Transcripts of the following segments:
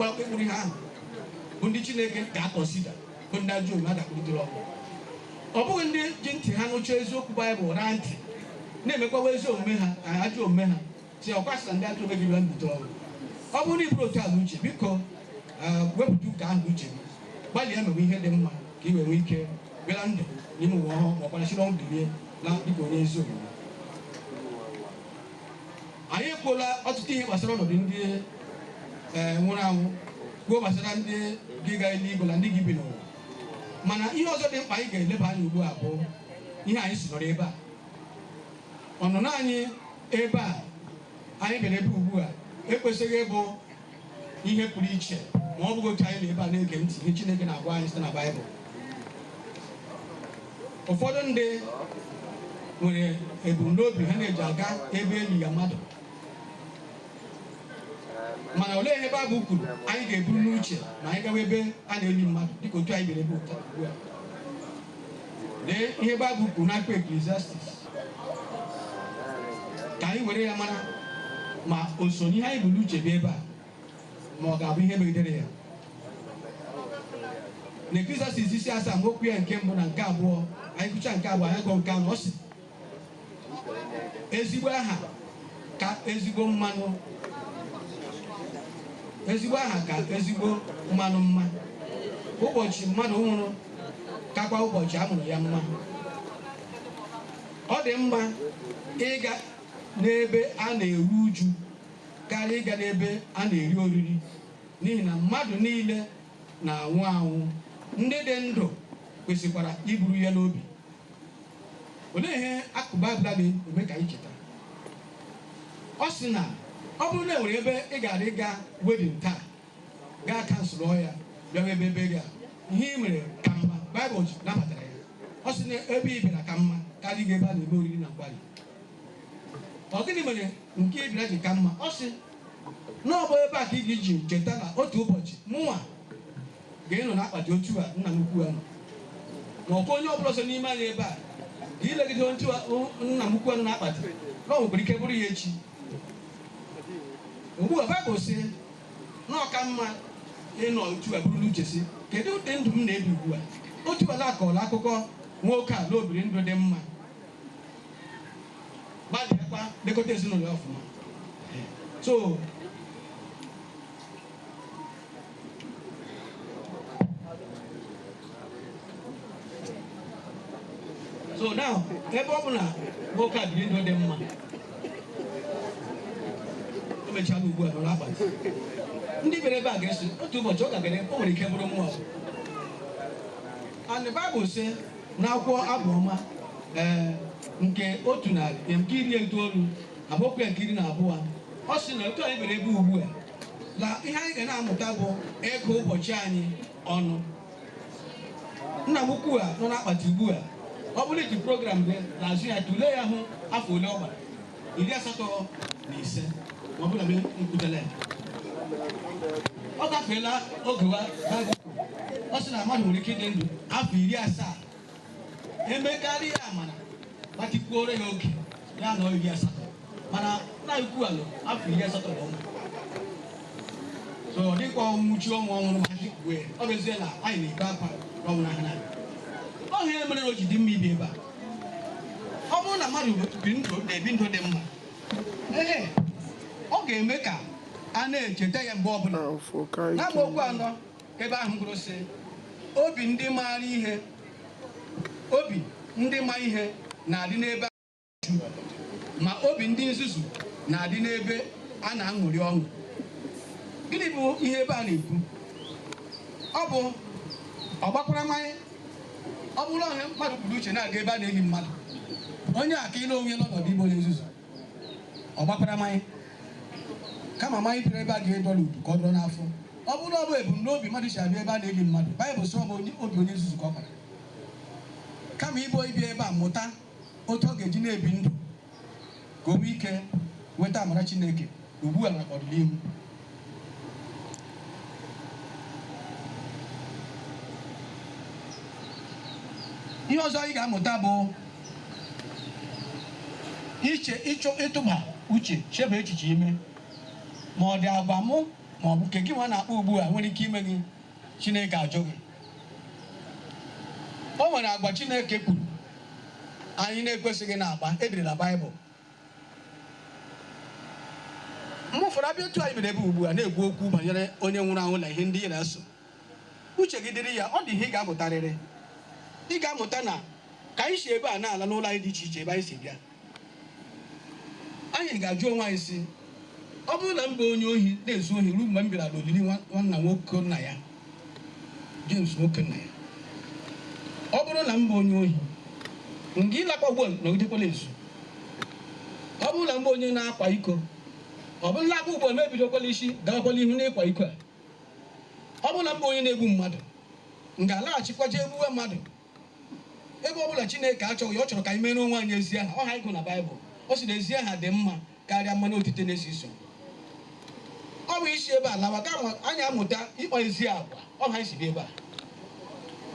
O kwuru ihe ahụ bụ ndị Chineke ga-akọnsịda bụ ndị ajọ omume a ga-akpọlite n'ọnwụ. Ọ bụghị ndị ji ntị ha nụcha eziokwu Baịbụl raa ntị na-emekwawa ezi omume ha na ajọ omume ha sị ọ kwa sị na ndị ajọ omume gị bịara mbilite n'ọnwụ. Ọ bụrụ na i buru otu a n'uche biko ah, wepụta ụka ahụ n'uche gị gbalịa mewe ihe dị mma ka ị wee nwee ike baa na ndụ n'ime ụwa ọhụrụ ma ọ kwa siri n'ọnwụ bilie na dịka onye ezi omume. Anyị ekwuola ọtụtụ ihe gbasara ọnọdụ ndị e, nwụrụ anwụ kwuo gbasara ndị ga-aga eluigwe na ndị ga-ebi n'ụwa mana ihe ọzọ dị mkpa anyị ga-eleba anya ugbu a bụ ihe anyị si nọrọ ebe a ọnụnọ anyị ebe a anyị bịara ebe ugbu a ekwesịghị ịbụ ihe pụrụ iche ma ọ bụghị otu anyị nọ ebe a na-ege ntị ihe Chineke na-agwa anyị site na Baịbụl ụfọdụ ndị nwere ebumnobi ha na-eji aga ebe eli ya mmadụ mana olee ihe Baịbụl kwuru anyị ga-eburu n'uche ma anyị gawa ebe a na-eli mmadụ dịka otu anyị bịara ebe ugbu a Lee ihe Baịbụl kwuru n'akwụkwọ Eklesiastis ka anyị were ya mara ma o so n'ihe anyị bu n'uche bịa ebe a ma ọ ga-abụ ihe megidere ya na Eklesiastis isi asaa amaokwu ya nke mbụ na nke abụọ anyị gụcha nke abụọ anyị gụọ nke anọ ọ sị ezigbo aha ka ezigbo mmanụ mma ụbọchị mmadụ nwụrụ kakwa ụbọchị a mụrụ ya mma ọ dị mma ịga n'ebe a na-eru uju karịa ịga n'ebe a na-eri oriri n'ihi na mmadụ niile na-anwụ anwụ ndị dị ndụ kwesịkwara iburu ya n'obi Olee ihe akụkụ Baịbụl a na-eme ka anyị cheta? Ọ sị na ọ bụrụ na e nwere ebe ị gaara ịga wedin taa, gaa kanselụọ ya, bịawa ebe ebe gị a, ihe ị mere ka mma, Baịbụl nabatara ya. Ọ sị na ebe ị bịara ka mma karịa ịga ebe a na-eme oriri na nkwarị. Ọ gịnị mere nke ị bịara ji ka mma? Ọ sị na ọ bụ ebe a ka ị ga-eji cheta na otu ụbọchị mụnwa Ga-anọ n'akpati otu a nna m ukwu a nọ, ma ọ kwa onye ọ bụla ọzọ n'ime anyị ebe a, ga-elegide otu a o- nna m ukwu a nọ n'akpati, na o nwekwara ike bụrụ ya echi. Ugbu a, Baịbụl sị na ọ ka mma ịnọ otu a buru n'uche sị, kedu ụdị ndụ m na-ebi ugbu a? Otu a na-akọrọ akụkọ nwoke a na o biri ndụ dị mma, gbalịakwa lekọta ezinụlọ ya ọfụma. So so now ebe ọ bụ na nwoke a biri ndụ dị mma o mechala ugbu a nọrọ n'akpati ndị bịara ebe a ga-asị otu ụbọchị ọ gagara o nwere ike bụrụ mụwa and Bible sị na akwụkwọ abụ ọma ee nke otu narị nke iri itoolu amaokwu ya nke iri na abụọ ọ sị na otu anyị bịara ebe ugbu a na ihe anyị ga na-amụta bụ ịgụ ụbọchị anyị ọnụ nna m ukwu a nọ n'akpati ugbu a ọ bụrụ i ji program gị n'azụ ya tụlee ya hụ afọ ole ọ gbara iri asatọ na ise ma ọ bụrụ na m kwutele ya ọ gafeela oge wa baịbụl kwuru. ọ sị na mmadụ nwere ike ịdị ndụ afọ iri asaa emekarịa amara gbatịkwuoro ya oge ya anọọ iri asatọ mana nna ukwu alụ afọ iri asatọ na ụma so ọ dịkwa ọnwụchu ọnwụ ọ nwụrụ ma ji kwue ọ bụ ezie na anyị na-ebe akwa n'ọnwụ nna a ọọ ya mere o ji dị mma ịbịa ebe a ọ bụrụ na mmadụ bi ndụ na-ebi ndụ dị mma ee ọ ga-eme ka a na-echeta ya mgbe ọbụla Now n'amaokwu anọ Ebe ahụ kwuru sị, Obi ndị maara ihe, obi ndị ma ihe na-adị n'ebe a na-eru uju, ma obi ndị nzuzu na-adị n'ebe a na-aṅụrị ọṅụ. Gịnị bụ ihe ebe a na-ekwu? Ọ bụ ọgbakwara mmanya. Ọ bụrụ na ọ ihe mmadụ buru n'uche na-aga ebe a na-eli mmadụ, onye a ka ịle onwe ya n'ọnọdụ ịbụ onye nzuzu. ọ gbakwara mmanya kama mmanya bịara ebe a ga-adọ n'udu ka ọ dọrọ n'afọ ọ bụrụ ọ bụ ebumnobi mmadụ ji abịa ebe a na-eli mmadụ baịbụl sị ọ bụ onye- obi onye nzuzu ka ọ bara kama ịbụ ịbịa ebe a mụta otu ọ ga-eji na-ebi ndụ ka o nwee ike nweta amara chineke ugbu a na n'ọdịnihu. Ihe ọzọ anyị ga-amụta bụ iche ịchọ ịtụba uche chebe echiche ime ma ọ dị agwa mụ ma ọ bụ nke gịnwa na-akpa ugbu a nwere ike ime gị Chineke ajụ gị o nwere agwa Chineke kwuru anyị na-ekwesịghị na-akpa e dere na Baịbụl mgbe ụfọdụ a bịa otu anyị bịara ebe ugbu a na-ekwu okwu banyere onye nwụrụ anwụ na ihe ndị ị na-eso uche gị dịrị ya ọ dị ihe ị ga-amụtarịrị ị ga-amụta na ka anyị si ebe a na-ala n'ụlọ anyị dị iche iche ebe anyị si bịa anyị ga-ajụ onwe anyị sị ọ bụrụ na m bụ onye ohi na-ezu ohi ruo mgbe m bịara n'olili nwa- nwanna nwoke nna ya Jemes nwoke nna ya, ọ bụrụ na m bụ onye ohi, m ga-alakwa ugbu a nọgidekwa la-ezu. Ọ bụrụ na m bụ onye na-akwa iko, ọ bụrụ m lakwa ugbu a m ebidokwa l'isi gawakwa l'ihu n'ịkwa iko a. Ọ bụrụ na m bụ onye na-egbu mmadụ, m ga-alaghachikwa jee gbuwe mmadụ. Ebe ọ bụ na Chineke achọghị ya, ọ chọrọ ka anyị meere onwe anyị ezi aha. Ọ ihe anyị gụrụ na Baịbụl. Ọ sị na ezi aha dị mma karịa mmanụ otite na-esi isi ụtọ. Ọ bụ anyị si ebe a lawa ka ama- anyị amụta ịkpa ezi agwa. Ọ ihe anyị si bịa ebe a.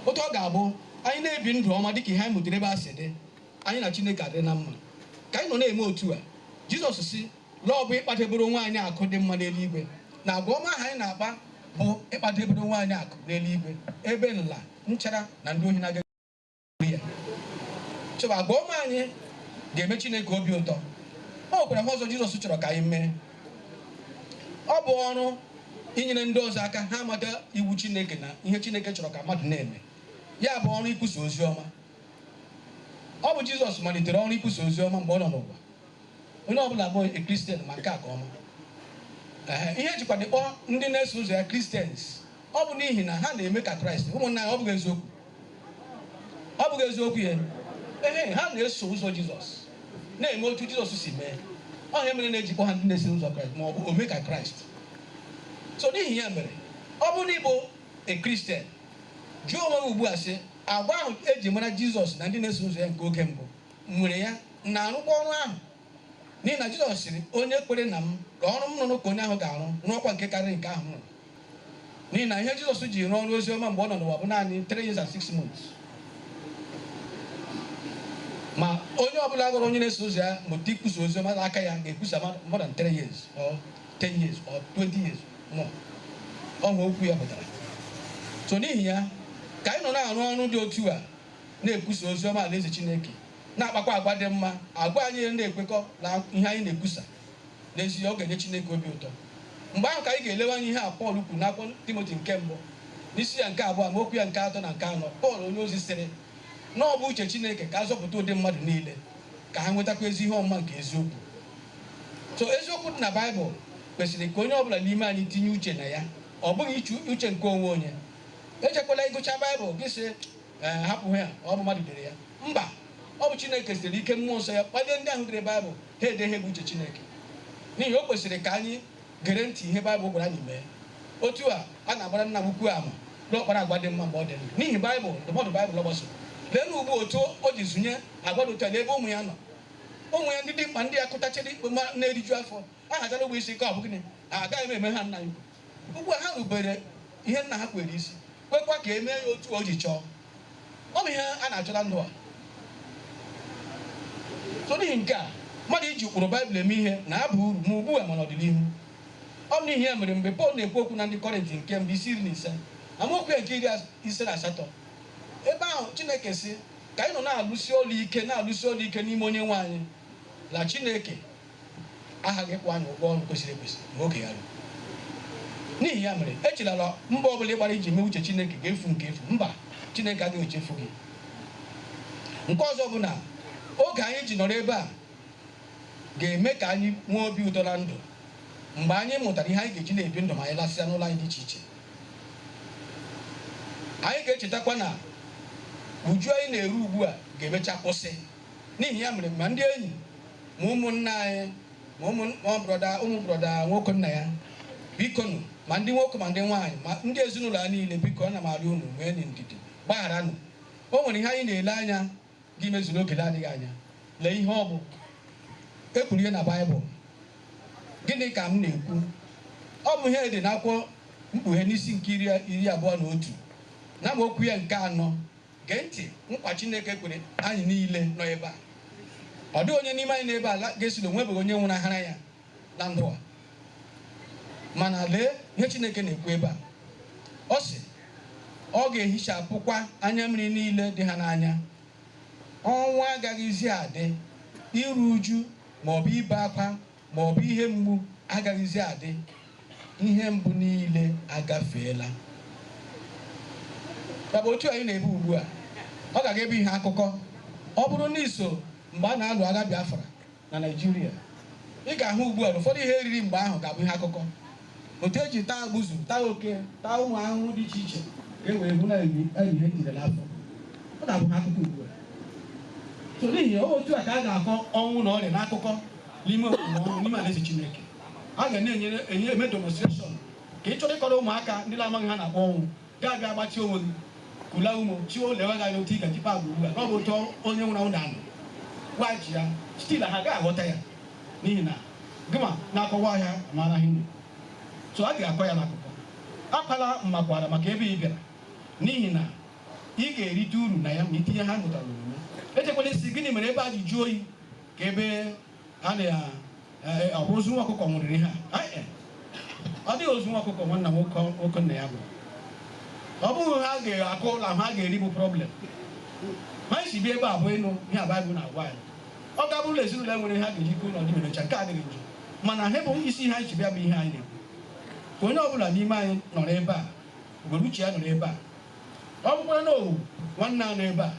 Otu ọ ga-abụ anyị na-ebi ndụ ọma dịka ihe anyị mụtara ebe a si dị, anyị na Chineke adị na mma. Ka anyị nọ na-eme otu a, Jizọs sị na ọ bụ ịkpadebere onwe anyị akụ dị mma n'eluigwe, na agwa ọma ahụ anyị na-akpa bụ ịkpadebere onwe anyị akụ n'eluigwe, ebe nla, nchara, na ndị ohi na-agaghị eru ya. So agwa ọma anyị ga-eme Chineke obi ụtọ. O nwekwara ihe ọzọ Jizọs chọrọ ka anyị mee. Ọ bụ ọrụ inyere ndị ọzọ aka ha mata iwu Chineke na ihe Chineke chọrọ ka mmadụ na-eme. Ya bụ ọrụ ikwusa ozi ọma. Ọ bụ Jizọs malitere ọrụ ikwusa ozi ọma mgbe ọ nọ n'ụwa. Onye ọ bụla bụ a Christian ma nke a ka ọma. Ee, ihe e jikwanụ kpọọ ndị na-eso ụzọ ya Christians, ọ bụ n'ihi na ha na-eme ka Kraịst. Ụmụnna ya, ọ bụghị eziokwu? Ọ bụghị eziokwu ya? Ehe, ha na-eso ụzọ Jizọs, na-eme otu Jizọs si mee. Ọ ihe mere na e ji kpọọ ha ndị na-eso ụzọ Kraịst ma ọ bụ ome ka Kraịst. So n'ihi ya mere, ọ bụrụ na ị bụ a Christian, jụọ onwe gị ugbu a sị, agwa ahụ e ji mara Jizọs na ndị na-eso ụzọ ya nke oge mbụ M nwere ya, m na-arụkwa ọrụ ahụ. N'ihi na Jisọs sịrị, Onye kwere na m, ọrụ m rụrụ ka onye ahụ ga-arụ, rụọkwa nke karịrị nke ahụ m rụrụ. N'ihi na ihe Jisọs ji rụọ ọrụ ozi ọma mgbe ọ nọ n'ụwa bụ naanị three years and six months. Ma onye ọbụla ghọrọ onye na-eso ụzọ ya mụta ikwusa ozi ọma n'aka ya ga-ekwusa ma- more than three years or ten years or twenty years more. Ọ ihe okwu ya pụtara. So n'ihi ya, ka anyị nọ na-arụ ọrụ dị otu a, na-ekwusa ozi ọma Alaeze Chineke, na-akpakwa agwa dị mma, agwa anyị na-ekwekọ na ihe anyị na-ekwusa, n'ezie ọ ga-enye Chineke obi ụtọ. Mgbe ahụ ka anyị ga-elewanye ihe a Pọl kwuru n'akwụkwọ Timoti nke Mbụ, n'isi ya nke abụọ amaokwu ya nke atọ na nke anọ. Pọl onyeozi sịrị na ọ bụ uche Chineke ka a zọpụta ụdị mmadụ niile, ka ha nwetakwa ezi ihe ọmụma nke eziokwu. So eziokwu dị na Baịbụl kwesịrị ka onye ọ bụla n'ime anyị tinye uche na ya, ọ bụghị iche uche nke onwe onye. Ejekwala gụchaa Baịbụl gị sị Ee, hapụ ya, ọ bụ mmadụ dere ya. Mba, ọ bụ Chineke sitere n'ike mmụọ nsọ ya kpalie ndị ahụ dere Baịbụl ha ede ihe bụ uche Chineke. N'ihi o kwesịrị ka anyị gere ntị ihe Baịbụl gwara anyị mee. Otu a, a na-agbara nna m ukwu ama na ọ kpara agwa dị mma mgbe ọ dị ndụ. N'ihi Baịbụl, ndụmọdụ Baịbụl ọ gbasoro. Leenụ ugbu a otu o ji zụnye agwa dị otu a n'ebe ụmụ ya nọ. Ụmụ ya ndị dimkpa ndị ya kụtachiri ikpe ma na-eriju afọ, a hazara ụgbọ isi nke ọ bụ gịnị? Agaghị m eme ha nna ya ukwu. Ugbu a, ha rubere ihe nna ha kweere isi, kwekwa ka e mee ya otu o ji chọọ. Ọ bụ ihe a na-achọ na ndụ a. So n'ihi nke a, mmadụ iji ụkpụrụ Bible eme ihe na-aba uru ma ugbu a ma n'ọdịnihu. Ọ bụ n'ihi ya mere mgbe Pọl na-ekwu okwu na Ndị Kọrịnt nke Mbụ isi iri na ise, amaokwu ya nke iri ise na asatọ, ebe ahụ Chineke sị, Ka anyị nọ na-alụsi ọlụ ike, na-alụsi ọlụ ike n'ime Onyenwe anyị na Chineke, aghaghị ịkwụ anyị ụgwọ ọrụ kwesịrị ekwesị mgbe oge ya ruru n'ihi ya mere echela na mbọ ọ bụla ị gbara iji mee uche chineke ga-efu nke efu mba chineke agaghị echefu gị nke ọzọ bụ na oge anyị ji nọrọ ebe a ga-eme ka anyị nwee obi ụtọ na ndụ mgbe anyị mụtara ihe anyị ga-eji na-ebi ndụ ma anyị lasịa n'ụlọ anyị dị iche iche anyị ga-echetakwa na uju anyị na-eru ugbu a ga-emecha kwụsị N'ihi ya mere, ma ndị enyi, ma ụmụnna anyị, ma ụmụ ma brọda ụmụ brọda Nwokennaya, bikonu, ma ndị nwoke ma ndị nwaanyị, ma ndị ezinụlọ ya niile, biko, ana m arịọ unu, nweenụ ndidi, gbagharanụ. O nwere ihe anyị na-ele anya ga-imezu n'oge na-adịghị anya. Lee ihe ọ bụ. E kwuru ya na Baịbụl. Gịnị ka m na-ekwu? Ọ bụ ihe e dere n'akwụkwọ Mkpughe n'isi nke iri iri abụọ na otu n'amaokwu ya nke anọ. Gee ntị nkwa Chineke kwere anyị niile nọ ebe a. Ọ dịghị onye n'ime anyị nọ ebe a ga-asị na o nwebeghị onye nwụnahara ya na ndụ a. Mana lee ihe Chineke na-ekwu ebe a. Ọ sị, Ọ ga-ehichapụkwa anya mmiri niile dị ha n'anya. Ọnwụ agaghịzi adị, iru uju ma ọ bụ ibe akwa ma ọ bụ ihe mgbu agaghịzi adị, ihe mbụ niile agafeela. Ya bụ, otu anyị na-eme ugbu a, ọ ga-aga ebe ihe akụkọ. Ọ bụrụ na i so mgbe a na-alụ agha Biafra na Naịjirịa, ị ga-ahụ ugbu a na ụfọdụ ihe e riri mgbe ahụ ga-abụ ihe akụkọ. Otu e ji taa agbuzu, taa oke, taa ụmụ ahụhụ dị iche iche ka e wee hụ na e riri ihe njide n'afọ. Ọ na-abụ ihe akụkọ ugbu a. So n'ihi ya, ọ bụ otu a ka a ga-akọ ọnwụ na ọrịa n'akụkọ n'ime omume ọnwụ n'ime alaeze Chineke. A ga na-eme demonstration ka ị chọrọ ịkọrọ ụmụaka ndị na-amaghị ihe a na-akpọ ọnwụ. Ga-abịa gbatịa onwe gị, kula ume, chi o lewe gị anya otu ị ga-eji kpaa agwa ugbu a, na ọ bụ otu onye nwụrụ anwụ na-anọ. Waghachi ya, still ha agaghị aghọta ya n'ihi na gịnwa na-akọwa ọhịa ma anaghị nri. So a ga-akọ ya n'akụkọ. Akwala mmakwaara maka ebe ị bịara n'ihi na ị ga-erite uru na ya ma i tinye ihe a mụtara n'omume. Echekwala sị gịnị mere ebe a ji jụọ oyi ka ebe a na ya eh, ọ bụ ozu nwa ọkụkọ nwụrịrị ihe a Anyị, eh, ọ dịghị ozu nwa ọkụkọ nwanna nwoke nwoke nna ya bụ ọ bụghị ihe a ga-aṅụ na ihe a ga-eri bụ problem ha ji bịa ebe a bụ ịnụ ihe baịbụl na-agwa anyị ọ ga-abụrụ na ezinụlọ nwere ihe ha ga-eji kụ ụlọ dị ma emechaa nke adịghị njọ mana ha bụ isi ihe anyị ji bịa bụ ihe anyị na-ekwu ka onye ọbụla n'ime anyị nọrọ ebe a were uche ya nọrọ ebe a ọ bụkwara na ọnwụ nwanna a nọ ebe a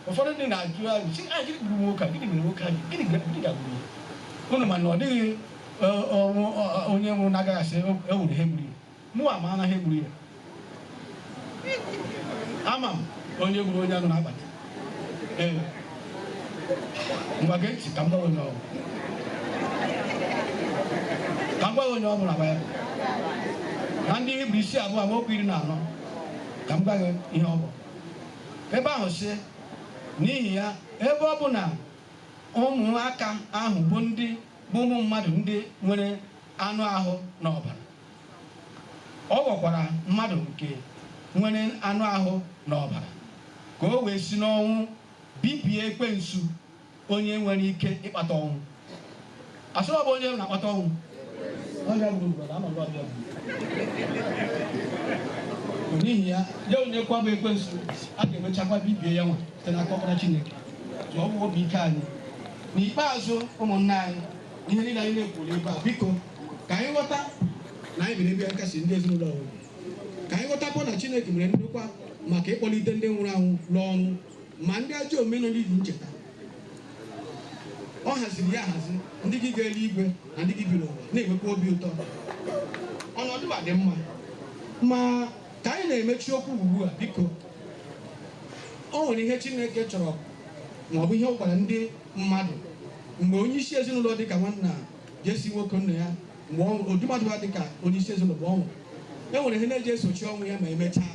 ụfọdụ ndị na-ajụ ajụ sị gịnị gburu nwoke a gịnị mere nwoke a ji gịnị ga- gịnị gagburu ya unu ma na ọ dịghị ọ, ọ, nwụ- ọ, ọ, onye nwụrụ na-agaghị asị "O- e nwere ihe gburu ya mụwa ama na ihe gburu ya ama m onye gburu onye nọ n'akpati ee ngwa gee ntị ka m gwa gị onye ọ bụ ka m gwa gị onye ọ bụ na baịbụl na ndị hibru isi abụọ amaokwu iri na anọ ka m gwa gị ihe ọ bụ Ebe ahụ sị, N'ihi ya, ebe ọ bụ na ụmụaka ahụ bụ ndị bụ ụmụ mmadụ ndị nwere anụ ahụ na ọbara, ọ ghọkwara mmadụ nke nwere anụ ahụ na ọbara, ka o wee si n'ọnwụ bibie ekwensu. onye nwere ike ịkpata ọnwụ. A sịrị ọ bụ onye na-akpata ọnwụ? Ọ ya gburu brọda, anyị ọ bụ ya gburu. N'ihi ya, ya nwa kwa bụ ekwensu, a ga-emechakwa bibie ya nwa site n'aka ọkpara Chineke. So ọ bụ obi ike anyị. N'ikpeazụ, ụmụnna anyị, ihe niile anyị na-ekwu n'ebe a, biko ka anyị ghọta na anyị bịa n'ebe a ịkasi ndị ezinụlọ obi. Ka anyị ghọtakwa na Chineke mere ndokwa maka ịkpọlite ndị nwụrụ anwụ n'ọnwụ. Ma ndị ajọ omume nọ n'ili ncheta. Ọ haziri ya ahazi, ndị ga-aga eluigwe na ndị ga-ebi n'ụwa na-enwekwa obi ụtọ. Ọnọdụ a ga-adị mma, ma ka anyị na-emechi okwu ugbu a, biko, o nwere ihe Chineke chọrọ ma ọ bụ ihe ọ gwara ndị mmadụ mgbe onye isi ezinụlọ dị ka nwanna Jesi nwoke nna ya mgbe ọ nwụrụ, ụdị mmadụ ha dị ka onye isi ezinụlọ mgbe ọ nwụrụ. E nwere ihe na-eji esochi ọnwụ ya ma emechaa.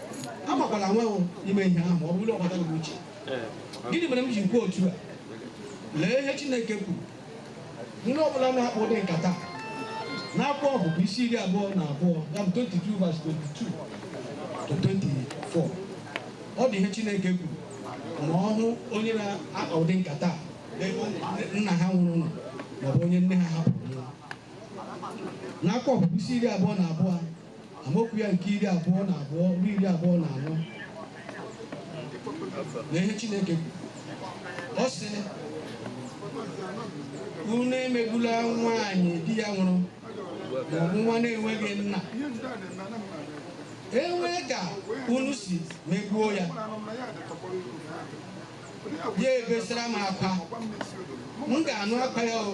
Anwakwala anwa ime ihe ahụ ma ọ bụrụ na ọ bata gị n'uche. Gịnị mere m ji kwuo otu a? Lee ihe Chineke kwuru. Ndị ọ bụla na-akpa ụdị nkata n'akwụkwọ Ọpụpụ isi iri abụọ na abụọ ya bụ 22 verse 22 to 24 ọ dị ihe Chineke kwuru ma ọ hụ onye na-akpa ụdị nkata a, ebe nna ha nwụrụ nọ maọbụ onye nne ha hapụrụ nwụọ. n'akwụkwọ Ọpụpụ isi iri abụọ na abụọ amaokwu ya nke iri abụọ na abụọ ruo iri abụọ na anọ lee ihe Chineke kwuru ọ sị unu emegbula nwaanyị di ya nwụrụ maọbụ nwa na-enweghị nna e nwee ka unu si megbuo ya ya ebesara m akwa m ga-anụ akwa ya o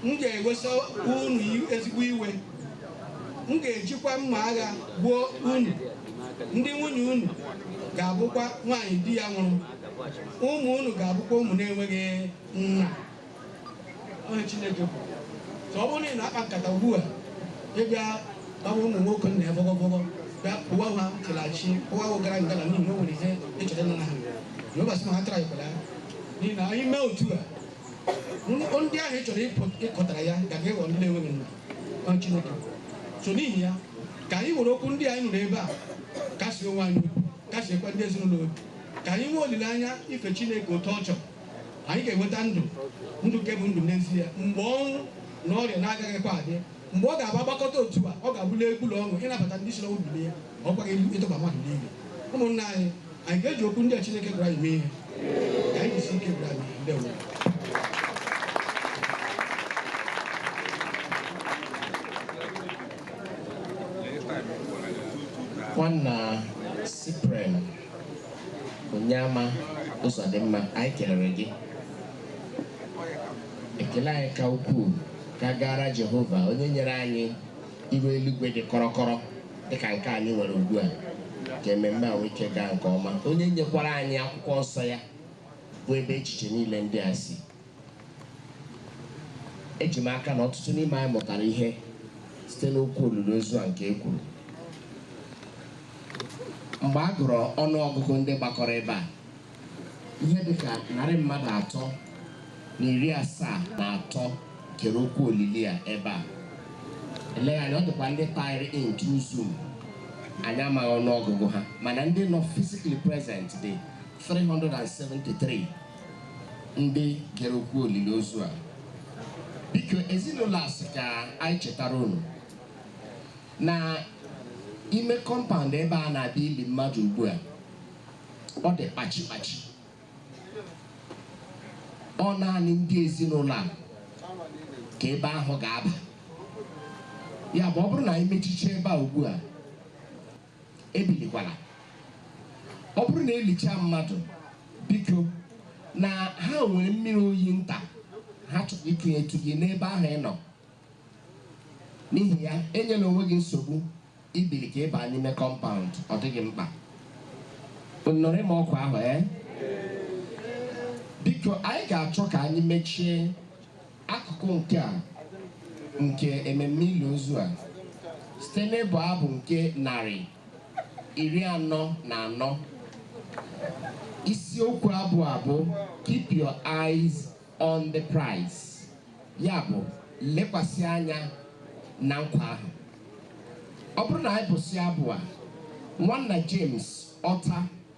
m ga-ewesa unu ezigbo iwe m ga-ejikwa mma agha gbuo unu ndị nwunye unu ga-abụkwa nwaanyị di ya nwụrụ ụmụ unu ga-abụkwa ụmụ na-enweghị nna Onye Chineke bụ ka ọ bụrụ na ị na-akpa nkata ugbu a ịbịa gbawa ụmụ nwoke nna ya bọgọbọgọ bịa kpụwa ha chịlachi kpụwa ha gara ngala n'ihi na o nwere ihe ị chọrọ ịnara ha Jehova sị ma ha tara ikwere ya n'ihi na anyị mee otu a n- ndị ahụ ị chọrọ ịpụ- ịkọtara ya ga ga-eghọ ndị na-enweghị nna Onye Chineke bụ. so n'ihi ya ka anyị were okwu ndị anyị nụrụ ebe a kasie onwe anyị obi kasiekwa ndị ezinụlọ obi ka anyị nwee olileanya ife Chineke otu ọ chọrọ anyị ga-enweta ndụ ndụ nke bụ ndụ n'ezie mgbe ọnwụ na ọrịa na-agaghịkwa adị mgbe ọ ga-abụ a gbakọta otu a ọ ga-abụla egwu na ọṅụ ịnabata ndị si n'ọnwụ bilie ọ kwaghị elu ịtụba mmadụ n'ili ụmụnna anyị anyị ga-eji okwu ndị a Chineke gwara anyị mee ihe ka anyị jisi ike gwara anyị ndị ọbụla nwanna Cyprian Onyeama Ụzọdịmma, anyị kelere gị. Ekele anyị ka ukwuu ka gaara Jehova onye nyere anyị iru eluigwe dị kọrọkọrọ dịka nke anyị nwere ugbu a ka ememme a nwee ike gaa nke ọma onye nyekwara anyị akwụkwọ nsọ ya bụ ebe echiche niile ndị a si Eji m aka na ọtụtụ n'ime anyị mụtara ihe site n'okwu olili ozu a nke e kwuru. Mgbe a gụrụ ọnụ ọgụgụ ndị gbakọrọ ebe a, ihe dị ka narị mmadụ atọ na iri asaa na atọ gere okwu olili a ebe a. Eleghị anya ọ dịkwa ndị taịrị in through Zoom, anyị amaghị ọnụ ọgụgụ ha, mana ndị nọ physically present dị 373. ndị gere okwu olili ozu a biko ezinụlọ a sị ka anyị chetara unu na ime kọmpaụnd ebe a na-abịa ili mmadụ ugbu a ọ dị kpachi kpachi ọ naanị ndị ezinụlọ a ka ebe ahụ ga-aba ya bụ ọ bụrụ na anyị mechiche ebe a ugbu a Ebilikwala. Ọ bụrụ na e lichaa mmadụ, biko, na ha nwere mmiri oyi nta ha chọrọ ikunyetụ gị n'ebe ahụ ị nọ. N'ihi ya, enyela onwe gị nsogbu ibili ka ị baa n'ime kọmpaụnd, ọ dịghị mkpa. Unu nụrụ ịma ọkwa ahụ, ee? Biko, anyị ga-achọ ka anyị mechie Akụkụ nke a nke ememme ili ozu a site n'ịbụ abụ nke narị iri anọ na anọ. Isiokwu abụ a bụ Keep Your Eyes on the Prize, ya bụ, lekwasị anya na nkwa ahụ. Ọ bụrụ na anyị bụsịa abụ a, Nwanna James Otta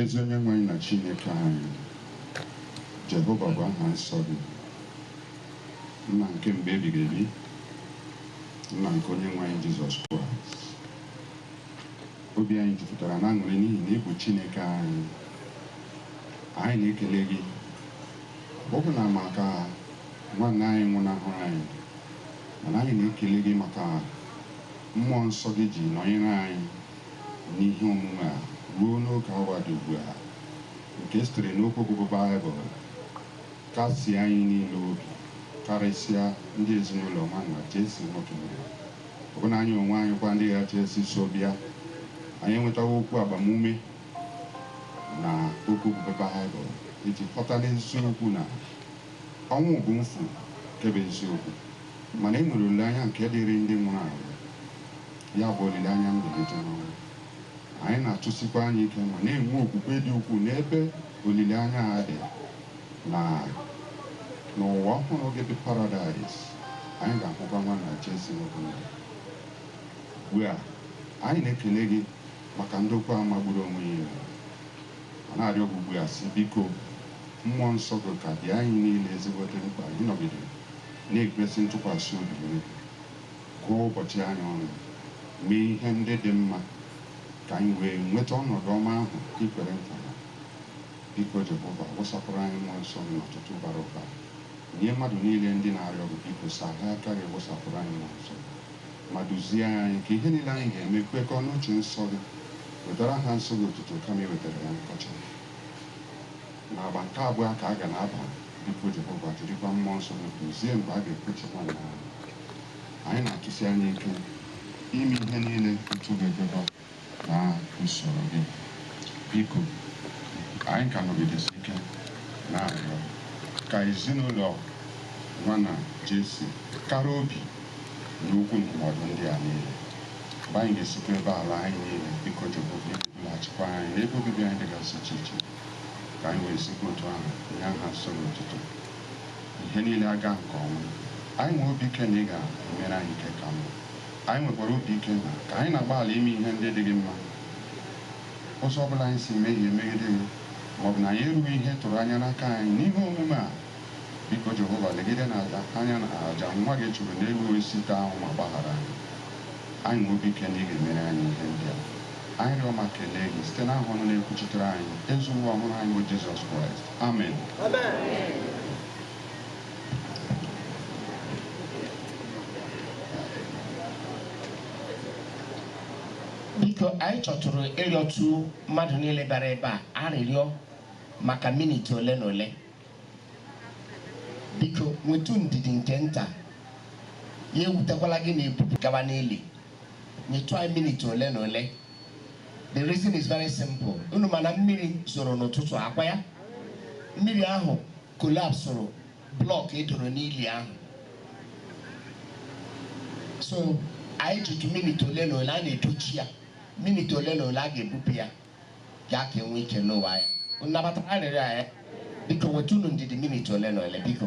ezi onye nwe anyị na chineke anyị jehova bụ aha nsọ gị nna nke mgbe ebighị ebi nna nke onye nwe anyị jizọs kraịst obi anyị jupụtara na aṅụrị n'ihi na ị bụ chineke anyị anyị na-ekele gị ọbụna maka Nwanna anyị nwụnahụrụ anyị, mana anyị na-ekele gị maka Mmụọ Nsọ gị ji nọnyere anyị n'ihe omume a ruo n'oge awa dị ugbu a, nke sitere n'okwu gị bụ Baịbụl kasie anyị niile obi, karịsịa ndị ezinụlọ Nwanna Jesse Nwokemere. Ọbụna anyị onwe anyị kwa ndị ghachi esi so bịa, anyị enwetawo okwu agbamume na okwu gị bụ Baịbụl iji ghọta n'eziokwu na Ọnwụ bụ mfu nke bụ eziokwu, mana e nwere olileanya nke dịịrị ndị nwụrụ anwụ, ya bụ, olileanya mbilite n'ọnwụ. Anyị na-atụsikwa anya ike ma na-enwe okwukwe dị ukwuu n'ebe olileanya a dị na n'ụwa ọhụrụ gị bụ paradaịs, anyị ga-ahụkwa Nwanna Jesse nwoke ndụ. Ugbu a, anyị na-ekele gị maka ndokwa a magburu onwe ya i mere, ma na-arịọ gị ugbu a, sị, Biko, Mmụọ Nsọ gị ka dị anyị niile ezigbote mkpa ịnọgide na-ekwesị ntụkwasị obi nye. Gụọ ụbọchị anyị ọnụ, mee ihe ndị dị mma ka anyị wee nweta ọnọdụ ọma ahụ i kwere nkwa ya. Biko, Jehova, wụsapụrụ anyị mmụọ nsọ gị n'ọtụtụ bara ụba. Nye mmadụ niile ndị na-arịọ gị, biko, saghee aka gị wụsapụrụ anyị mmụọ nsọ gị ma duzie anyị ka ihe niile anyị ga-eme kwekọọ n'uche nsọ gị. Wetara aha nsọ gị otuto kama iwetara ya nkọcha. N'agba nke abụọ ka a ga na-aba, biko Jehova, jirikwa mmụọ nsọ gị duzie mgbe a ga-ekpuchi nwanna ahụ. Anyị na-atụsi anya ike ime ihe niile otu ọ ga-ekwekọ na usoro gị. Biko, anyị ka nọgidesi ike na-arịọ ka ezinụlọ Nwanna Jesse kara obi n'okwu ndụmọdụ ndị a niile. Mgbe anyị ga-esikwa ebe a laa, anyị niile, biko, Jehova, ị ga-edulaghachikwa anyị n'ebe obibi anyị dịgasị iche iche, ka anyị wee sikwa otu ahụ nye aha nsọ gị otuto. Ihe niile agaa nke ọma, anyị nwere obi ike na ị ga-emere anyị nke ka mma. Anyị nwekwara obi ike na ka anyị na-agbalị ime ihe ndị dị gị mma, ụzọ ọ bụla anyị si mehie megide gị ma ọ bụ na anyị erughị ihe ị tụrụ anya n'aka anyị n'ihe omume a, Biko Jehova, legide n'aja anya n'aja nwa gị chụrụ n'elu osisi ịta ahụhụ ma gbaghara anyị. Anyị nwere obi ike na ị ga-emere anyị ihe ndị a. Anyị rịọ ma kelee gị site n'aha ọnụ na-ekwuchitere anyị, Eze Ụwa ọhụrụ anyị bụ Jizọs Kraịst. Amen. Biko anyị chọtụrụ ịrịọtụ mmadụ niile bịara ebe a arịrịọ maka minit ole na ole. Biko nwetu ndidi nke nta, ya ewutekwala gị na ebupu gaba n'ili. Nyetụ anyị minit ole na ole. The reason is very simple. Unu ma na mmiri zoro n'ụtụtụ a, ọ kwa ya? Mmiri ahụ kolapsụrụ blọk e doro n'ili ahụ. So anyị jitụ minit ole na ole na-edochi ya, minit ole na ole a ga-ebupụ ya. ya ka e nwee ike n'ụwa ya. Unu nabatara arịrịọ a? Ee. Biko nwetụnụ ndidi minit ole na ole, biko.